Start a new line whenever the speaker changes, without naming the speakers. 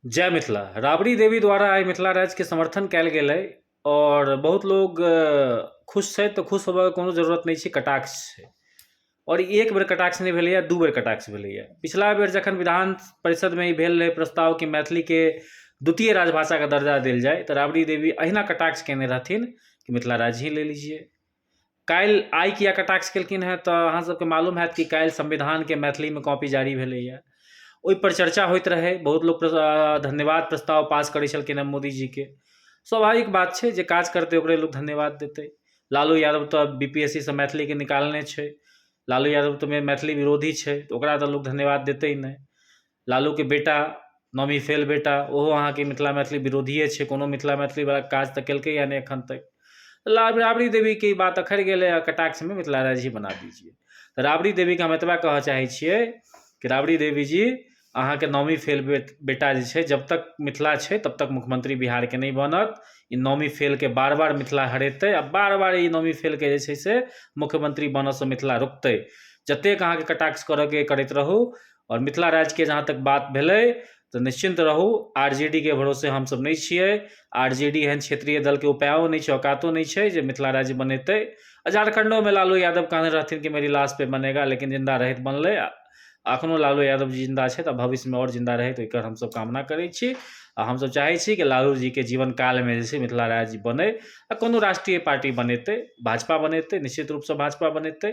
जय मिथिला राबड़ी देवी द्वारा आइ मिथिला राज्यके समर्थन कयल गेल अइ आओर बहुत लोक खुश छथि तऽ खुश होबऽके कोनो जरूरत नहि छै कटाक्ष छै आओर ई एक बेर कटाक्ष नहि भेलैए दू बेर कटाक्ष भेलैए पछिला बेर जखन विधान परिषदमे ई भेल रहै प्रस्ताव कि मैथिलीके द्वितीय राजभाषाके दर्जा देल जाइ तऽ राबड़ी देवी अहिना कटाक्ष कयने रहथिन कि मिथिला राज्य ही ले लीजिए काल्हि आइ किया कटाक्ष केलखिन हँ तऽ अहाँ सबके मालूम होयत कि काल्हि संविधानके मैथिलीमे कॉपी जारी भेलैया ओहि पर चर्चा होइत रहै बहुत लोक धन्यवाद प्रस्ताव पास करै छलखिन हँ मोदी जीके स्वाभाविक बात छै जे काज करतै ओकरे लोक धन्यवाद देतै लालू यादव तऽ बी पी एस सी सँ मैथिलीके निकालने छै लालू यादव तऽ मैथिली विरोधी छै तऽ ओकरा तऽ लोक धन्यवाद देतै नहि लालूके बेटा नौमी फेल बेटा ओहो अहाँके मिथिला मैथिली विरोधिए छै कोनो मिथिला मैथिलीवला काज तऽ केलकैए नहि एखन तक तऽ राबड़ी देवीके ई बात अखड़ि गेलै आओर कटाक्षमे मिथिला राज्य ही बना दीजिए तऽ राबड़ी देवीके हम एतबा कहऽ चाहै छिए कि राबड़ी देवीजी अहाँके नौमी फेल बेटा जे छै जब तक मिथिला छै तब तक मुख्यमंत्री बिहारके नहि बनत ई नौमी फेलके बार बार मिथिला हरेतै आओर बार बार ई नौमी फेलके जे छै से मुख्यमंत्री बनऽसँ मिथिला रोकतै जतेक अहाँके कटाक्ष करऽके अइ करैत रहू आओर मिथिला राज्यके जहाँ तक बात भेलै तऽ निश्चिन्त रहू आर जे डी के भरोसे हमसभ नहि छिए आर जे डी एहन क्षेत्रीय दलके उपाइओ नहि छै औकातो नहि छै जे मिथिला राज्य बनेतै आओर झारखण्डोमे लालू यादव कहने रहथिन कि मेरी लाश पर बनेगा लेकिन जिन्दा रहै तऽ बनलै आओर एखनहु लालू यादव जी जिन्दा छथि आओर भविष्यमे आओर जिन्दा रहथि तऽ एकर हमसभ कामना करै छी आओर हमसभ चाहै छी कि लालूजीके जीवनकालमे जे छै मिथिला राज्य बनै आओर कोनो राष्ट्रीय पार्टी बनेतै भाजपा बनेतै निश्चित रूपसँ भाजपा बनेतै